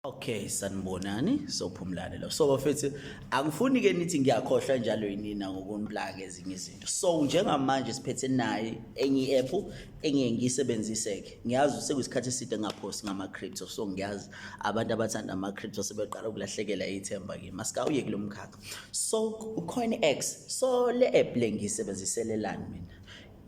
Okay sanibonani sophumlane lo so bafethu angifuni ke nithi ngiyakhohlwa njalo yinina ngokunplaka ezinye izinto so njengamanje siphethe naye enye i-app engiye ngiyisebenzise ke ngiyazi sekuyisikhathi eside ngaphosi ngama crypto so ngiyazi abantu abathanda ama crypto sebeqala ukulahlekela ithemba kimi asikawuye kulomkhakha so ucoinx so le app le ngiyisebenziselelani mina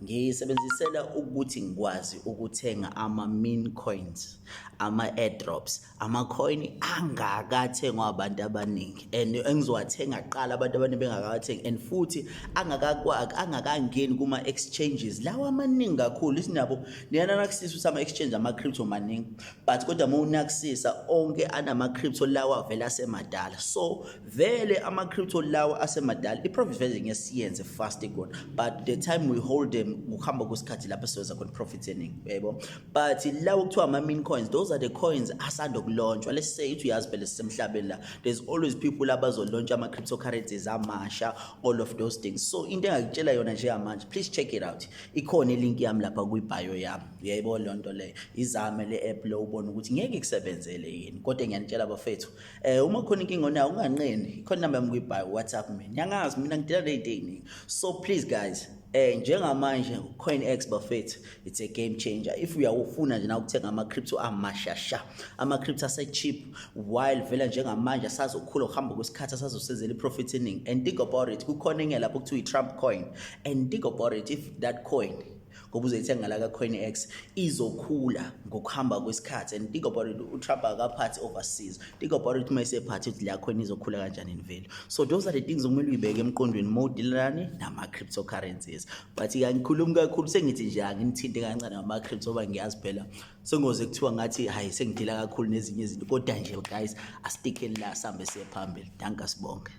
Ngisebenzisela ukuthi ngikwazi ukuthenga ama-mean coins, ama-airdrops, ama-coin angakathengwa abantu abaningi and engizowathenga kuqala abantu abaningi bengakawathengi and futhi angakangeni kuma-exchanges lawa amaningi kakhulu ithi nabo niyana nakusisa ukuthi ama-exchange ama-crypto maningi but kodwa uma unakusisa onke anama-crypto lawa vele asemadala so vele ama-crypto lawa asemadala i-profit vele ngeke siyenze fast kona but the time we hold them kuhamba kwesikhathi lapho siwenza khona profit eningi yebo but lawo kuthiwa ama-min coins those are the coins asanda kulontshwa let's say ithi uyazi phela sisemhlabeni la there's always people abazolontshwa ama-cryptocurrencies amasha all of those things so into engakutshela yona njengamanje please check it out ikhona ilink yami lapha kwi-bio yami uyayibona loo nto leyo izame le-app lo ubone ukuthi ngeke kusebenzele yini kodwa ngiyanitshela bafethu Eh uma khona inkinga onayo unganqeni. Ikhona number yami kwi-by WhatsApp mina. Ngiyangazi mina ngidela late evening. So please guys, eh njengamanje uCoinEx bafethu it's a game changer. If uyawufuna nje na ukuthenga ama crypto amashasha, ama crypto ase cheap while vela njengamanje asazokhula uhamba kwesikhathi asazosizela iprofit eningi. And think about it, kukhona enye lapho kuthiwa i-Trump coin. And think about it if that coin ngoba uzoyithenga la ka-coinex izokhula ngokuhamba kwesikhathi and think about it utrump akaphathi overseas think about it uma esephathi ukuthi la coin izokhula kanjani imvelo so those are the things okumele uyibeke emqondweni uma udilelani nama-crypto currencies but kangikhulumi kakhulu sengithi nje anginithinte kancane ngama-crypto oba ngiyazi phela sengoze kuthiwa ngathi hhayi sengidila kakhulu nezinye izinto kodwa nje guys asitikheni la sihambe siye phambili danka sibonge